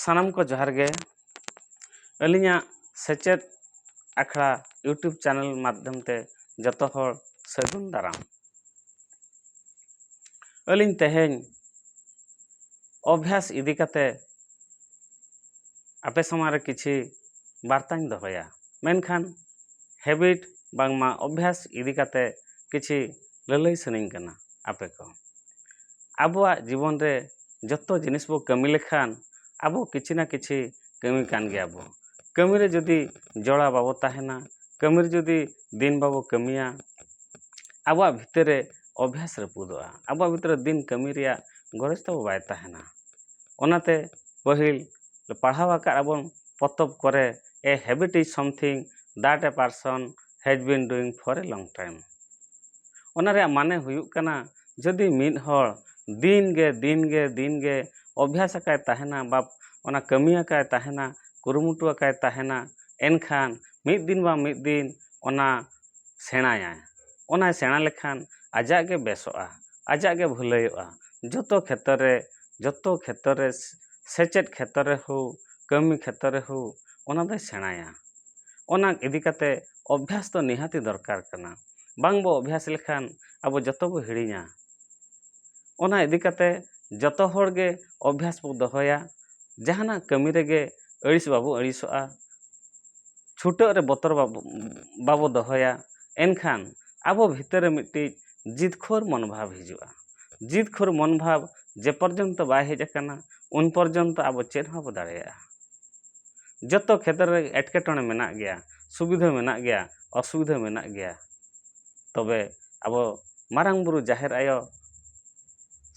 ᱥᱟᱱᱟᱢ ᱠᱚ ᱡᱚᱦᱟᱨ ᱜᱮ ᱟᱹᱞᱤᱧᱟᱜ ᱥᱮᱪᱮᱫ ᱟᱠᱷᱲᱟ ᱤᱭᱩᱴᱩᱵᱽ ᱪᱮᱱᱮᱞ ᱢᱟᱫᱽᱫᱷᱚᱢ ᱛᱮ ᱡᱚᱛᱚ ᱦᱚᱲ ᱥᱟᱹᱜᱩᱱ ᱫᱟᱨᱟᱢ ᱟᱹᱞᱤᱧ ᱛᱮᱦᱮᱧ ᱚᱵᱷᱭᱟᱥ ᱤᱫᱤ ᱠᱟᱛᱮ ᱟᱯᱮ ᱥᱟᱢᱟᱝ ᱨᱮ ᱠᱤᱪᱷᱤ ᱵᱟᱨᱛᱟᱧ ᱫᱚᱦᱚᱭᱟ ᱢᱮᱱᱠᱷᱟᱱ ᱦᱮᱵᱤᱴ ᱵᱟᱝᱢᱟ ᱚᱵᱷᱭᱟᱥ ᱤᱫᱤ ᱠᱟᱛᱮ ᱠᱤᱪᱷᱤ ᱞᱟᱹᱞᱟᱹᱭ ᱥᱟᱱᱟᱹᱧ ᱠᱟᱱᱟ ᱟᱯᱮ ᱠᱚ ᱟᱵᱚᱣᱟᱜ ᱡᱤᱵᱚᱱ ᱨᱮ ᱡᱚᱛᱚ ᱡᱤᱱᱤᱥ ᱵᱚ ᱠᱟᱹᱢᱤ ᱞᱮᱠᱷᱟᱱ ᱟᱵᱚ ᱠᱤᱪᱷᱤ ᱱᱟ ᱠᱤᱪᱷᱤ ᱠᱟᱹᱢᱤ ᱠᱟᱱ ᱜᱮᱭᱟ ᱵᱚ ᱠᱟᱹᱢᱤ ᱨᱮ ᱡᱩᱫᱤ ᱡᱚᱲᱟᱣ ᱵᱟᱵᱚ ᱛᱟᱦᱮᱱᱟ ᱠᱟᱹᱢᱤ ᱨᱮ ᱡᱩᱫᱤ ᱫᱤᱱ ᱵᱟᱵᱚ ᱠᱟᱹᱢᱤᱭᱟ ᱟᱵᱚᱣᱟᱜ ᱵᱷᱤᱛᱟᱹᱨ ᱨᱮ ᱚᱵᱷᱟᱥ ᱨᱟᱹᱯᱩᱫᱚᱜᱼᱟ ᱟᱵᱚᱣᱟᱜ ᱵᱷᱤᱛᱟᱹᱨ ᱨᱮ ᱫᱤᱱ ᱠᱟᱹᱢᱤ ᱨᱮᱭᱟᱜ ᱜᱚᱨᱚᱡᱽ ᱛᱟᱵᱚ ᱵᱟᱭ ᱛᱟᱦᱮᱱᱟ ᱚᱱᱟᱛᱮ ᱯᱟᱹᱦᱤᱞ ᱯᱟᱲᱦᱟᱣ ᱟᱠᱟᱫ ᱟᱵᱚᱱ ᱯᱚᱛᱚᱵ ᱠᱚᱨᱮ a habit is something that a person has been ᱰᱩᱭᱤᱝ for A long time ᱚᱱᱟ ᱨᱮᱭᱟᱜ ᱢᱟᱱᱮ ᱦᱩᱭᱩᱜ ᱠᱟᱱᱟ ᱡᱩᱫᱤ ᱢᱤᱫ ᱦᱚᱲ ᱫᱤᱱ ᱜᱮ ᱫᱤᱱ ᱜᱮ ᱫᱤᱱ ᱜᱮ ᱚᱵᱷᱭᱟᱥ ᱟᱠᱟᱫ ᱛᱟᱦᱮᱱᱟ ᱵᱟ ᱚᱱᱟ ᱠᱟᱹᱢᱤ ᱟᱠᱟᱫ ᱛᱟᱦᱮᱱᱟ ᱠᱩᱨᱩᱢᱩᱴᱩ ᱟᱠᱟᱫ ᱛᱟᱦᱮᱱᱟ ᱮᱱᱠᱷᱟᱱ ᱢᱤᱫ ᱫᱤᱱ ᱵᱟᱝ ᱢᱤᱫ ᱫᱤᱱ ᱚᱱᱟ ᱥᱮᱬᱟᱭᱟᱭ ᱚᱱᱟᱭ ᱥᱮᱬᱟ ᱞᱮᱠᱷᱟᱱ ᱟᱡᱟᱜ ᱜᱮ ᱵᱮᱥᱚᱜᱼᱟ ᱟᱡᱟᱜ ᱜᱮ ᱵᱷᱟᱹᱞᱟᱹᱭᱚᱜᱼᱟ ᱡᱚᱛᱚ ᱠᱷᱮᱛᱨᱚ ᱨᱮ ᱡᱚᱛᱚ ᱠᱷᱮᱛᱨᱚ ᱨᱮ ᱥᱮᱪᱮᱫ ᱠᱷᱮᱛᱨᱚ ᱨᱮ ᱦᱳᱠ ᱠᱟᱹᱢᱤ ᱠᱷᱮᱛᱨᱚ ᱨᱮ ᱦᱳᱠ ᱚᱱᱟ ᱫᱚᱭ ᱥᱮᱬᱟᱭᱟ ᱚᱱᱟ ᱤᱫᱤ ᱠᱟᱛᱮ ᱚᱵᱷᱭᱟᱥ ᱫᱚ ᱱᱤᱦᱟᱹᱛᱤ ᱫᱚᱨᱠᱟᱨ ᱠᱟᱱᱟ ᱵᱟᱝ ᱵᱚ ᱚᱵᱷᱭᱟᱥ ᱞᱮᱠᱷᱟᱱ ᱟᱵᱚ ᱡᱚᱛᱚ ᱵᱚ ᱦᱤᱲᱤᱧᱟ ᱚᱱᱟ ᱤᱫᱤ ᱠᱟᱛᱮ ᱡᱚᱛᱚ ᱦᱚᱲ ᱜᱮ ᱚᱵᱷᱭᱟᱥ ᱵᱚ ᱫᱚᱦᱚᱭᱟ ᱡᱟᱦᱟᱱᱟᱜ ᱠᱟᱹᱢᱤ ᱨᱮᱜᱮ ᱟᱹᱲᱤᱥ ᱵᱟᱵᱚ ᱟᱹᱲᱤᱥᱚᱜᱼᱟ ᱪᱷᱩᱴᱟᱹᱜ ᱨᱮ ᱵᱚᱛᱚᱨ ᱵᱟᱵᱚ ᱵᱟᱵᱚ ᱫᱚᱦᱚᱭᱟ ᱮᱱᱠᱷᱟᱱ ᱟᱵᱚ ᱵᱷᱤᱛᱟᱹᱨ ᱨᱮ ᱢᱤᱫᱴᱤᱡ ᱡᱤᱛᱠᱷᱳᱨ ᱢᱚᱱᱳ ᱵᱷᱟᱵᱽ ᱦᱤᱡᱩᱜᱼᱟ ᱡᱤᱛᱠᱷᱳᱨ ᱢᱚᱱᱳ ᱵᱷᱟᱵᱽ ᱡᱮ ᱯᱚᱨᱡᱚᱱᱛᱚ ᱵᱟᱭ ᱦᱮᱡ ᱟᱠᱟᱱᱟ ᱩᱱ ᱯᱚᱨᱡᱚᱱᱛᱚ ᱟᱵᱚ ᱪᱮᱫ ᱦᱚᱸ ᱵᱟᱵᱚ ᱫᱟᱲᱮᱭᱟᱜᱼᱟ ᱡᱚᱛᱚ ᱠᱷᱮᱛᱨᱮ ᱨᱮᱜᱮ ᱮᱴᱠᱮᱴᱚᱬᱮ ᱢᱮᱱᱟᱜ ᱜᱮᱭᱟ ᱥᱩᱵᱤᱫᱷᱟᱹ ᱢᱮᱱᱟᱜ ᱜᱮᱭᱟ ᱚᱥᱩᱵᱤᱫᱷᱟᱹ ᱢᱮᱱᱟᱜ ᱜᱮᱭᱟ ᱛᱚᱵᱮ ᱟᱵᱚ ᱢᱟᱨᱟᱝ ᱵᱩᱨᱩ ᱡᱟᱦᱮᱨ ᱟᱭᱳ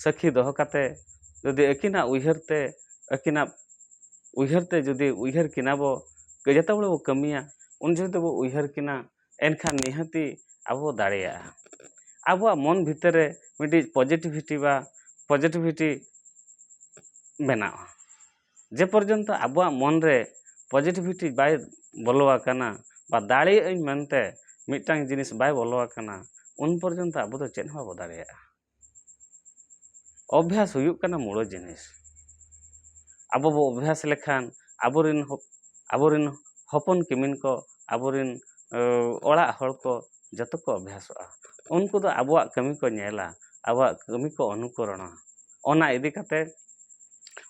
ᱥᱟᱹᱠᱷᱤ ᱫᱚᱦᱚ ᱠᱟᱛᱮ ᱡᱩᱫᱤ ᱟᱹᱠᱤᱱᱟᱜ ᱩᱭᱦᱟᱹᱨ ᱛᱮ ᱟᱹᱠᱤᱱᱟᱜ ᱩᱭᱦᱟᱹᱨ ᱛᱮ ᱡᱩᱫᱤ ᱩᱭᱦᱟᱹᱨ ᱠᱤᱱᱟ ᱵᱚ ᱡᱚᱛᱚ ᱦᱚᱲ ᱵᱚ ᱠᱟᱹᱢᱤᱭᱟ ᱩᱱ ᱡᱚᱦᱚᱜ ᱫᱚᱵᱚ ᱩᱭᱦᱟᱹᱨ ᱠᱤᱱᱟ ᱮᱱᱠᱷᱟᱱ ᱱᱤᱦᱟᱹᱛᱤ ᱟᱵᱚ ᱵᱚ ᱫᱟᱲᱮᱭᱟᱜᱼᱟ ᱟᱵᱚᱣᱟᱜ ᱢᱚᱱ ᱵᱷᱤᱛᱤᱨ ᱨᱮ ᱢᱤᱫᱴᱤᱡ ᱯᱚᱡᱮᱴᱤᱵᱷᱤᱴᱤ ᱵᱟ ᱯᱚᱡᱮᱴᱤᱵᱷᱤᱴᱤ ᱵᱮᱱᱟᱜᱼᱟ ᱡᱮ ᱯᱚᱨᱡᱚᱱᱛᱚ ᱟᱵᱚᱣᱟᱜ ᱢᱚᱱ ᱨᱮ ᱯᱚᱡᱮᱴᱤᱵᱷᱤᱴᱤ ᱵᱟᱭ ᱵᱚᱞᱚ ᱟᱠᱟᱱᱟ ᱵᱟ ᱫᱟᱲᱮᱭᱟᱜ ᱟᱹᱧ ᱢᱮᱱᱛᱮ ᱢᱤᱫᱴᱟᱝ ᱡᱤᱱᱤᱥ ᱵᱟᱭ ᱵᱚᱞᱚ ᱟᱠᱟᱱᱟ ᱩᱱ ᱯᱚᱨᱡᱚᱱᱛᱚ ᱟᱵᱚ ᱫᱚ ᱪᱮᱫ ᱦᱚᱸ ᱵᱟᱵᱚ ᱫᱟᱲᱮᱭᱟᱜᱼᱟ ᱚᱵᱵᱷᱟᱥ ᱦᱩᱭᱩᱜ ᱠᱟᱱᱟ ᱢᱩᱬ ᱡᱤᱱᱤᱥ ᱟᱵᱚ ᱵᱚ ᱚᱵᱵᱷᱟᱥ ᱞᱮᱠᱷᱟᱱ ᱟᱵᱚ ᱨᱮᱱ ᱟᱵᱚ ᱨᱮᱱ ᱦᱚᱯᱚᱱ ᱠᱤᱢᱤᱱ ᱠᱚ ᱟᱵᱚ ᱨᱮᱱ ᱚᱲᱟᱜ ᱦᱚᱲ ᱠᱚ ᱡᱚᱛᱚ ᱠᱚ ᱚᱵᱵᱷᱟᱥᱚᱜᱼᱟ ᱩᱱᱠᱩ ᱫᱚ ᱟᱵᱚᱣᱟᱜ ᱠᱟᱹᱢᱤ ᱠᱚ ᱧᱮᱞᱟ ᱟᱵᱚᱣᱟᱜ ᱠᱟᱹᱢᱤ ᱠᱚ ᱚᱱᱩᱠᱚᱨᱚᱱᱟ ᱚᱱᱟ ᱤᱫᱤ ᱠᱟᱛᱮᱫ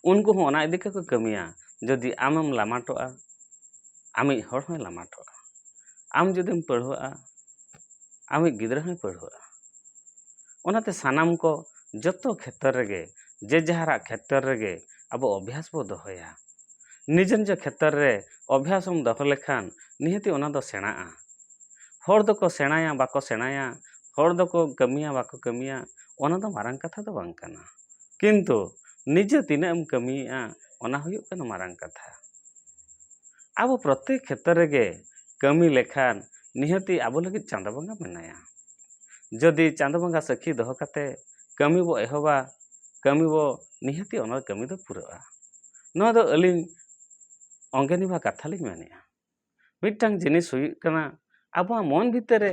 ᱩᱱᱠᱩ ᱦᱚᱸ ᱚᱱᱟ ᱤᱫᱤ ᱠᱟᱛᱮ ᱠᱚ ᱠᱟᱹᱢᱤᱭᱟ ᱡᱩᱫᱤ ᱟᱢᱮᱢ ᱞᱟᱢᱟᱴᱚᱜᱼᱟ ᱟᱢᱤᱡ ᱦᱚᱲ ᱦᱚᱸᱭ ᱞᱟᱢᱟᱴᱚᱜᱼᱟ ᱟᱢ ᱡᱩᱫᱤᱢ ᱯᱟᱹᱲᱦᱟᱹᱜᱼᱟ ᱟᱢᱤᱡ ᱜᱤᱫᱽᱨᱟᱹ ᱦᱚᱸᱭ ᱯᱟᱹᱲᱦᱟᱹᱜᱼᱟ ᱚᱱᱟᱛᱮ ᱥᱟᱱᱟᱢ ᱠᱚ ᱡᱚᱛᱚ ᱠᱷᱮᱛᱨᱮ ᱨᱮᱜᱮ ᱡᱮ ᱡᱟᱦᱟᱨᱟᱜ ᱠᱷᱮᱛᱨᱮ ᱨᱮᱜᱮ ᱟᱵᱚ ᱚᱵᱷᱭᱟᱥ ᱵᱚ ᱫᱚᱦᱚᱭᱟ ᱱᱤᱡᱮ ᱱᱤᱡᱮ ᱠᱷᱮᱛᱨᱮ ᱨᱮ ᱚᱵᱷᱭᱟᱥ ᱮᱢ ᱫᱚᱦᱚ ᱞᱮᱠᱷᱟᱱ ᱱᱤᱦᱟᱹᱛ ᱚᱱᱟ ᱫᱚ ᱥᱮᱬᱟᱜᱼᱟ ᱦᱚᱲ ᱫᱚᱠᱚ ᱥᱮᱬᱟᱭᱟ ᱵᱟᱠᱚ ᱥᱮᱬᱟᱭᱟ ᱦᱚᱲ ᱫᱚᱠᱚ ᱠᱟᱹᱢᱤᱭᱟ ᱵᱟᱠᱚ ᱠᱟᱹᱢᱤᱭᱟ ᱚᱱᱟ ᱫᱚ ᱢᱟᱨᱟᱝ ᱠᱟᱛᱷᱟ ᱫᱚ ᱵᱟᱝ ᱠᱟᱱᱟ ᱠᱤᱱᱛᱩ ᱱᱤᱡᱮ ᱛᱤᱱᱟᱹᱜ ᱮᱢ ᱠᱟᱹᱢᱤᱭᱮᱫᱼᱟ ᱚᱱᱟ ᱦᱩᱭᱩᱜ ᱠᱟᱱᱟ ᱢᱟᱨᱟᱝ ᱠᱟᱛᱷᱟ ᱟᱵᱚ ᱯᱨᱚᱛᱮᱠ ᱠᱷᱮᱛᱨᱮ ᱨᱮᱜᱮ ᱠᱟᱹᱢᱤ ᱞᱮᱠᱷᱟᱱ ᱱᱤᱦᱟᱹᱛᱤ ᱟᱵᱚ ᱞᱟᱹᱜᱤᱫ ᱪᱟᱸᱫᱚ ᱵᱚᱸᱜᱟ ᱢᱮᱱᱟᱭᱟ ᱡᱩᱫᱤ ᱪᱟᱸᱫᱚ ᱵᱚᱸᱜᱟ ᱥᱟᱹᱠᱷᱤ ᱫᱚᱦᱚ ᱠᱟᱛᱮ ᱠᱟᱹᱢᱤ ᱵᱚ ᱮᱦᱚᱵᱟ ᱠᱟᱹᱢᱤ ᱵᱚ ᱱᱤᱦᱟᱹᱛᱤ ᱚᱱᱟ ᱠᱟᱹᱢᱤ ᱫᱚ ᱯᱩᱨᱟᱹᱜᱼᱟ ᱱᱚᱣᱟ ᱫᱚ ᱟᱹᱞᱤᱧ ᱚᱝᱜᱮ ᱱᱤᱵᱷᱟ ᱠᱟᱛᱷᱟ ᱞᱤᱧ ᱢᱮᱱᱮᱫᱼᱟ ᱢᱤᱫᱴᱟᱝ ᱡᱤᱱᱤᱥ ᱦᱩᱭᱩᱜ ᱠᱟᱱᱟ ᱟᱵᱚᱣᱟᱜ ᱢᱚᱱ ᱵᱷᱤᱛᱤᱨ ᱨᱮ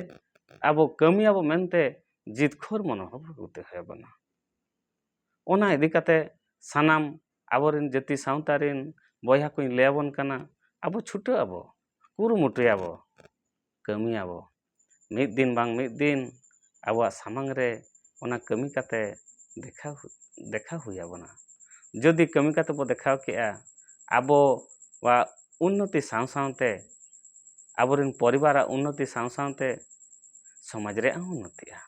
ᱟᱵᱚ ᱠᱟᱹᱢᱤᱭᱟᱵᱚ ᱢᱮᱱᱛᱮ ᱡᱤᱛᱠᱟᱹᱨ ᱢᱚᱱᱳᱵᱷᱟᱵᱽ ᱟᱹᱜᱩ ᱛᱮ ᱦᱩᱭ ᱟᱵᱚᱱᱟ ᱚᱱᱟ ᱤᱫᱤ ᱠᱟᱛᱮ ᱥᱟᱱᱟᱢ ᱟᱵᱚᱨᱮᱱ ᱡᱟᱹᱛᱤ ᱥᱟᱶᱛᱟ ᱨᱮᱱ ᱵᱚᱭᱦᱟ ᱠᱚᱧ ᱞᱟᱹᱭᱟᱵᱚᱱ ᱠᱟᱱᱟ ᱟᱵᱚ ᱪᱷᱩᱴᱟᱹᱜ ᱟᱵᱚ ᱠᱩᱨᱩᱢᱩᱴᱩᱭᱟᱵᱚ ᱠᱟᱹᱢᱤᱭᱟᱵᱚ ᱢᱤᱫ ᱫᱤᱱ ᱵᱟᱝ ᱢᱤᱫ ᱫᱤᱱ ᱟᱵᱚᱣᱟᱜ ᱥᱟᱢᱟᱝ ᱨᱮ ᱚᱱᱟ ᱠᱟᱹᱢᱤ ᱠᱟᱛᱮ ᱫᱮᱠᱷᱟᱣ ᱫᱮᱠᱷᱟᱣ ᱦᱩᱭ ᱟᱵᱚᱱᱟ ᱡᱩᱫᱤ ᱠᱟᱹᱢᱤ ᱠᱟᱛᱮ ᱵᱚ ᱫᱮᱠᱷᱟᱣ ᱠᱮᱜᱼᱟ ᱟᱵᱚᱣᱟᱜ ᱩᱱᱱᱚᱛᱤ ᱥᱟᱶ ᱥᱟᱶᱛᱮ ᱟᱵᱚ ᱨᱮᱱ ᱯᱚᱨᱤᱵᱟᱨᱟᱜ ᱩᱱᱱᱚᱛᱤ ᱥᱟᱶ ᱥᱟᱶᱛᱮ ᱥᱚᱢᱟᱡᱽ ᱨᱮᱭᱟᱜ ᱦᱚᱸ ᱩᱱᱱᱚᱛᱤᱜᱼᱟ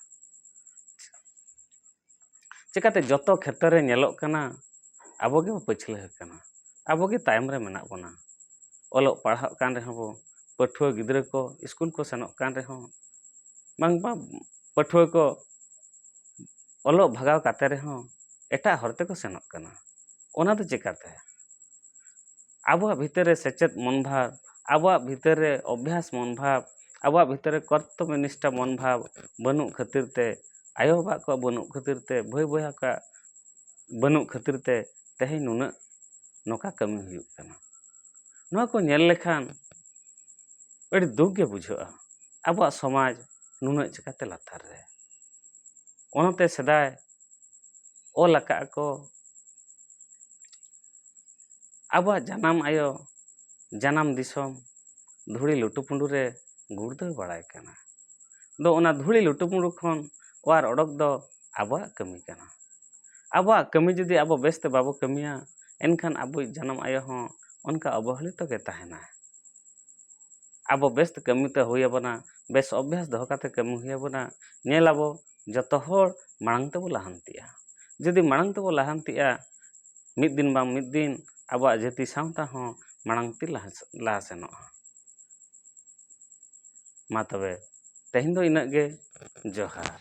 ᱪᱤᱠᱟᱹᱛᱮ ᱡᱚᱛᱚ ᱠᱷᱮᱛᱨᱮ ᱨᱮ ᱧᱮᱞᱚᱜ ᱠᱟᱱᱟ ᱟᱵᱚ ᱜᱮ ᱯᱟᱹᱪᱷᱞᱟᱹ ᱟᱠᱟᱱᱟ ᱟᱵᱚ ᱜᱮ ᱛᱟᱭᱚᱢ ᱨᱮ ᱢᱮᱱᱟᱜ ᱵᱚᱱᱟ ᱚᱞᱚᱜ ᱯᱟᱲᱦᱟᱜ ᱠᱟᱱ ᱨᱮᱦᱚᱸ ᱵᱚᱱ ᱯᱟᱹᱴᱷᱩᱣᱟᱹ ᱜᱤᱫᱽᱨᱟᱹ ᱠᱚ ᱥᱠᱩᱞ ᱠᱚ ᱥᱮᱱᱚᱜ ᱠᱟᱱ ᱨᱮᱦᱚᱸ ᱵᱟᱝ ᱵᱟᱝ ᱯᱟᱹᱴᱷᱩᱣᱟᱹ ᱠᱚ ᱚᱞᱚᱜ ᱵᱷᱟᱜᱟᱣ ᱠᱟᱛᱮ ᱨᱮᱦᱚᱸ ᱮᱴᱟᱜ ᱦᱚᱨ ᱛᱮᱠᱚ ᱥᱮᱱᱚᱜ ᱠᱟᱱᱟ ᱚᱱᱟ ᱫᱚ ᱪᱤᱠᱟᱹᱛᱮ ᱟᱵᱚᱣᱟᱜ ᱵᱷᱤᱛᱟᱹᱨ ᱨᱮ ᱥᱮᱪᱮᱫ ᱢᱚᱱ ᱵᱷᱟᱵᱽ ᱟᱵᱚᱣᱟᱜ ᱵᱷᱤᱛᱟᱹᱨ ᱨᱮ ᱚᱵᱽᱵᱷᱟᱥ ᱢᱚᱱ ᱵᱷᱟᱵᱽ ᱟᱵᱚᱣᱟᱜ ᱵᱷᱤᱛᱟᱹᱨ ᱨᱮ ᱠᱚᱨᱛᱚᱵᱽᱵᱚ ᱱᱤᱥᱴᱷᱟ ᱢᱚᱱ ᱵᱷᱟᱵᱽ ᱵᱟᱹᱱᱩᱜ ᱠᱷᱟᱹᱛᱤᱨ ᱛᱮ ᱟᱭᱳ ᱵᱟᱵᱟ ᱠᱚᱣᱟᱜ ᱵᱟᱹᱱᱩᱜ ᱠᱷᱟᱹᱛᱤᱨ ᱛᱮ ᱵᱷᱟᱹᱭ ᱵᱚᱭᱦᱟ ᱠᱚᱣᱟᱜ ᱵᱟᱹᱱᱩᱜ ᱠᱷᱟᱹᱛᱤᱨ ᱛᱮ ᱛᱮᱦᱮᱧ ᱱᱩᱱᱟᱹᱜ ᱱᱚᱝᱠᱟ ᱠᱟᱹᱢᱤ ᱦᱩᱭᱩᱜ ᱠᱟᱱᱟ ᱱᱚᱣᱟ ᱠᱚ ᱧᱮᱞ ᱞᱮᱠᱷᱟᱱ ᱟᱹᱰᱤ ᱫᱩᱠ ᱜᱮ ᱵᱩᱡᱷᱟᱹᱜᱼᱟ ᱟᱵᱚᱣᱟᱜ ᱥᱚᱢᱟᱡᱽ ᱱᱩᱱᱟᱹᱜ ᱪᱤᱠᱟᱹᱛᱮ ᱞᱟᱛᱟᱨ ᱨᱮ ᱚᱱᱟᱛᱮ ᱥᱮᱫᱟᱭ ᱚᱞ ᱟᱠᱟᱫ ᱟᱠᱚ ᱟᱵᱚᱣᱟᱜ ᱡᱟᱱᱟᱢ ᱟᱭᱳ ᱡᱟᱱᱟᱢ ᱫᱤᱥᱚᱢ ᱫᱷᱩᱲᱤ ᱞᱩᱴᱩ ᱯᱩᱰᱩ ᱨᱮ ᱜᱩᱲᱫᱟᱹᱣ ᱵᱟᱲᱟᱭ ᱠᱟᱱᱟ ᱫᱚ ᱚᱱᱟ ᱫᱷᱩᱲᱤ ᱞᱩᱴᱩ ᱯᱩᱰᱩ ᱠᱷᱚᱱ ᱚᱣᱟᱨ ᱚᱰᱚᱠ ᱫᱚ ᱟᱵᱚᱣᱟᱜ ᱠᱟᱹᱢᱤ ᱠᱟᱱᱟ ᱟᱵᱚᱣᱟᱜ ᱠᱟᱹᱢᱤ ᱡᱩᱫᱤ ᱟᱵᱚ ᱵᱮᱥ ᱛᱮ ᱵᱟᱵᱚ ᱠᱟᱹᱢᱤᱭᱟ ᱮᱱᱠᱷᱟᱱ ᱟᱵᱚᱭᱤᱡ ᱡᱟᱱᱟᱢ ᱟᱭᱳ ᱦᱚᱸ ᱚᱱᱠᱟ ᱚᱵᱚᱦᱮᱞᱤᱛᱚ ᱜᱮ ᱛᱟᱦᱮᱱᱟ ᱟᱵᱚ ᱵᱮᱥ ᱛᱮ ᱠᱟᱹᱢᱤ ᱛᱮ ᱦᱩᱭ ᱟᱵᱚᱱᱟ ᱵᱮᱥ ᱚᱵᱷᱭᱟᱥ ᱫᱚᱦᱚ ᱠᱟᱛᱮ ᱠᱟᱹᱢᱤ ᱦᱩᱭ ᱟᱵᱚᱱᱟ ᱧᱮᱞ ᱟᱵᱚ ᱡᱚᱛᱚ ᱦᱚᱲ ᱢᱟᱲᱟᱝ ᱛᱮᱵᱚ ᱞᱟᱦᱟᱱᱛᱤᱜᱼᱟ ᱡᱩᱫᱤ ᱢᱟᱲᱟᱝ ᱛᱮᱵᱚ ᱞᱟᱦᱟᱱᱛᱤᱜᱼᱟ ᱢᱤᱫ ᱫᱤᱱ ᱵᱟᱝ ᱢᱤᱫ ᱫᱤᱱ ᱟᱵᱚᱣᱟᱜ ᱡᱟᱹᱛᱤ ᱥᱟᱶᱛᱟ ᱦᱚᱸ ᱢᱟᱲᱟᱝ ᱛᱮ ᱞᱟᱦᱟ ᱥᱮᱱᱚᱜᱼᱟ ᱢᱟ ᱛᱚᱵᱮ ᱛᱮᱦᱮᱧ ᱫᱚ ᱤᱱᱟᱹᱜ ᱜᱮ ᱡᱚᱦᱟᱨ